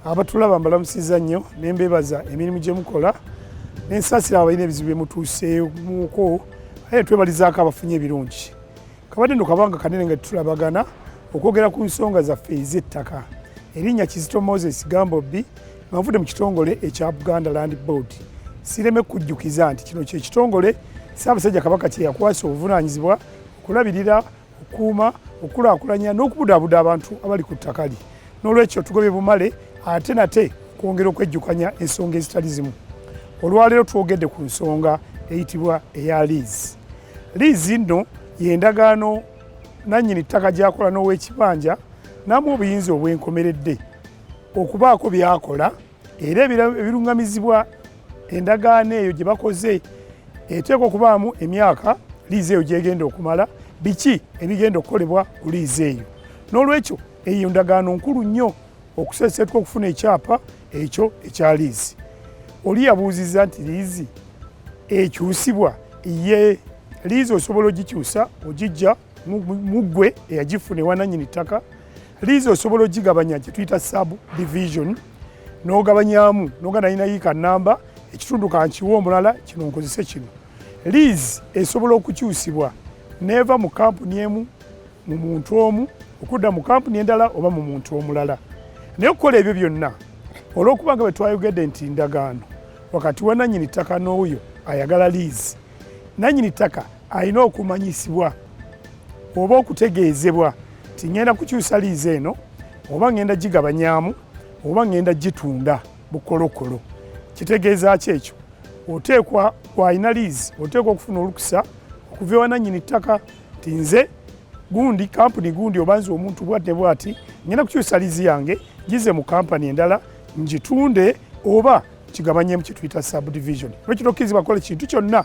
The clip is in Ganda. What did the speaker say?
abatulaba mbalamusiza nnyo ne mbeebaza emirimu gye mukola ne nsaasira abalina ebizibu bye mutuusemuko aye twebalizaako abafunye ebirungi kabadde no kabanga kanene nga tetulabagana okwogera ku nsonga zaffe ez'ettaka erinnya kizito moses gambobbi nga nvudde mu kitongole ekya buganda land board sireme kujjukiza nti kino kyekitongole ssaabasajja kabaka kyeyakwasa obuvunaanyizibwa okulabirira okukuuma okukulaakulanya n'okubudaabuda abantu abali ku ttaka lye n'olwekyo tugobye bumale ate nate okwongera okwejjukanya ensonga ezitali zimu olwaleero twogedde ku nsonga eyitibwa eya liizi liizi nno yendagaano nannyini ttaka gyakola n'owekibanja namu obuyinza obwenkomeredde okubaako byakola era ebiruŋŋamizibwa endagaano eyo gye bakoze eteekwa okubaamu emyaka liizi eyo gyegenda okumala biki ebigenda okukolebwa ku liizi eyo n'olwekyo eyo ndagaano nkulu nnyo okuseeseetuka okufuna ekyapa ekyo ekya liizi oli yabuuzizza nti liizi ekyusibwa ye liizi osobola ogikyusa ogijja muggwe eyagifuna ewananyini ttaka liizi osobola ogigabanya kyetuyita sub division n'ogabanyamu noga nalina yiika namba ekitundu kankiwa omulala kino nkozese kino liizi esobola okukyusibwa neeva mu kampuni emu mu muntu omu okudda mu kampuni endala oba mu muntu omulala naye okukola ebyo byonna olw'okuba nga bwe twayogedde nti ndagaano wakati wa nannyini ttaka n'oyo ayagala liizi nannyini ttaka alina okumanyisibwa oba okutegeezebwa nti ŋŋenda kukyusa liizi eno oba ŋŋenda gigabanyaamu oba ŋŋenda gitunda bukolokolo kitegeeza ki ekyo oteekwa kwalina liizi oteekwa okufuna olukusa okuva ewa nannyini ttaka nti nze gundi kampuni gundi oba nze omuntu bwati ne bwati ŋŋenda kukyusa liizi yange gize mu kampani endala ngitunde oba kigabanyemu kyetuyita subdivision lwekitokkirizibwa kola kintu kyonna